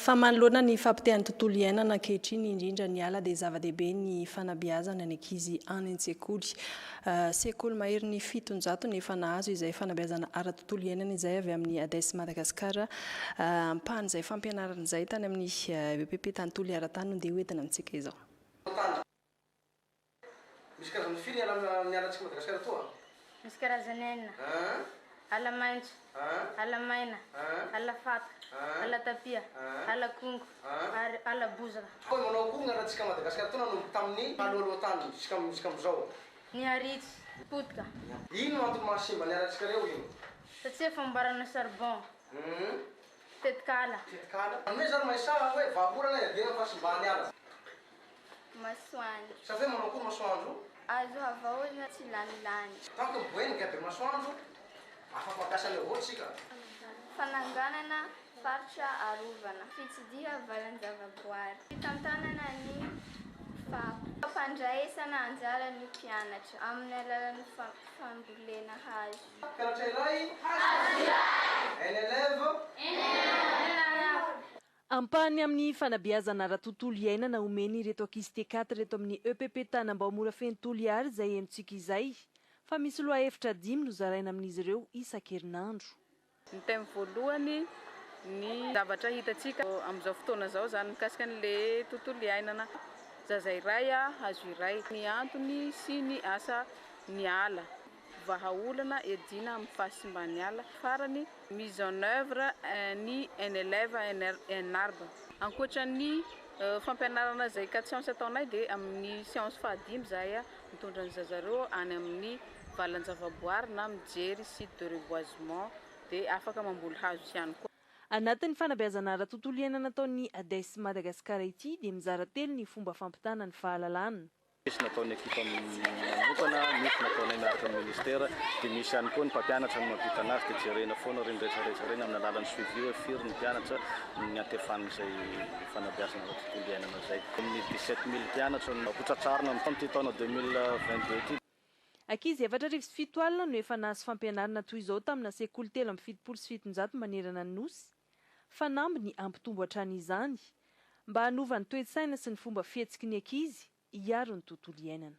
Fa manoloana ny fahapotehan'ny tontolo iainana ankehitriny, indrindra ny ala, dia zava-dehibe ny fanabeazana ny ankizy any an-tsekoly. Sekoly maherin'ny fitonjato no efa nahazo izay fanabeazana ara-tontolo iainana izay avy amin'ny Hades Madagascar. Ampahan'izay fampianarana izay, tany amin'ny epp tany Toliara tany no dia hoentina amintsika izao. Misy karazany firy ny ala ny ala antsika Madagasikara atoa a? Misy karazany enina, ala maintso, ala maina, ala faka, ala tapia, ala kongo ary ala bozaka. Toa ny manao akory ny ala antsika Madagasikara atoa nanomboka tamin' ny talohaloha tany juskamin' izao? Ny haritsy, potika. Ino no antony maha simba ny ala antsika reo io? Satsia famboarana charbon, tetikala. Tetikala? Anome izany mahay saha hoe vahaolana iadiana ny fahasimbahan' ny ala. masoandro. Sa ve manao akory masoandro? Azo havaozina tsy lany lany. Tant que miboenga be masoandro, afa-mampiasa an'i Yavôh tsika. Fananganana faritra arovana. Fitsidiha valan-javaboary. Fitantanana ny fako. Fampandraisana anjara ny mpianatra amin'ny alalan'ny fambolena hazo. Mpianatra iray, hazo iray. Un élève, un élève. Ampahany amin'ny fanabeazana ara-tontolo iainana omeny ireto ankizy T4 ireto amin'ny EPP Tanambao Morafeno Toliary izay henontsika izay fa misy lohahevitra dimy nozaraina amin'izy ireo isan-kerinandro. Ny thème voalohany, ny zavatra hitantsika amin'izao fotoana izao izany mikasika an'ilay tontolo iainana. Zaza iray hazo iray, ny antony sy ny asa niala. vahaolana iadiana amin'ny fahasimban'ny ala farany mise en œuvre ny NLEVA NRNARB. Ankoatra ny fampianarana izay cas science ataonay dia amin'ny séance fahadimy izahay mitondra ny zaza ireo any amin'ny valan-javaboary na mijery site de reboisement dia afaka mamboly hazo ihany koa. Anatin'ny fanabeazana ara-tontolo iainana ataon'ny ADES Madagascar ity dia mizara telo ny fomba fampitana ny fahalalana. Misy nataon'ny ekipa manokana, misy nataonay miaraka amin'ny ministera, dia misy ihany koa ny mpampianatra no mampitana azy dia jerena foana ireny rehetra rehetra ireny amin'ny alalan'ny suivi hoe firy ny mpianatra no niantefan'izay fanabeazana ara tontolo iainana izay. Amin'ny dix sept mille mpianatra no ho tratrarina amin'ity taona deux mille vingt deux ity. Ankizy efatra arivo sy fito alina no efa nahazo fampianarana toy izao tamina sekoly telo amby fitopolo sy fitonjato manerana ny Nosy. Fanamby ny hampitombo hatrany izany, mba hanova ny toe-tsaina sy ny fomba fihetsiky ny ankizy hiaro ny tontolo iainana.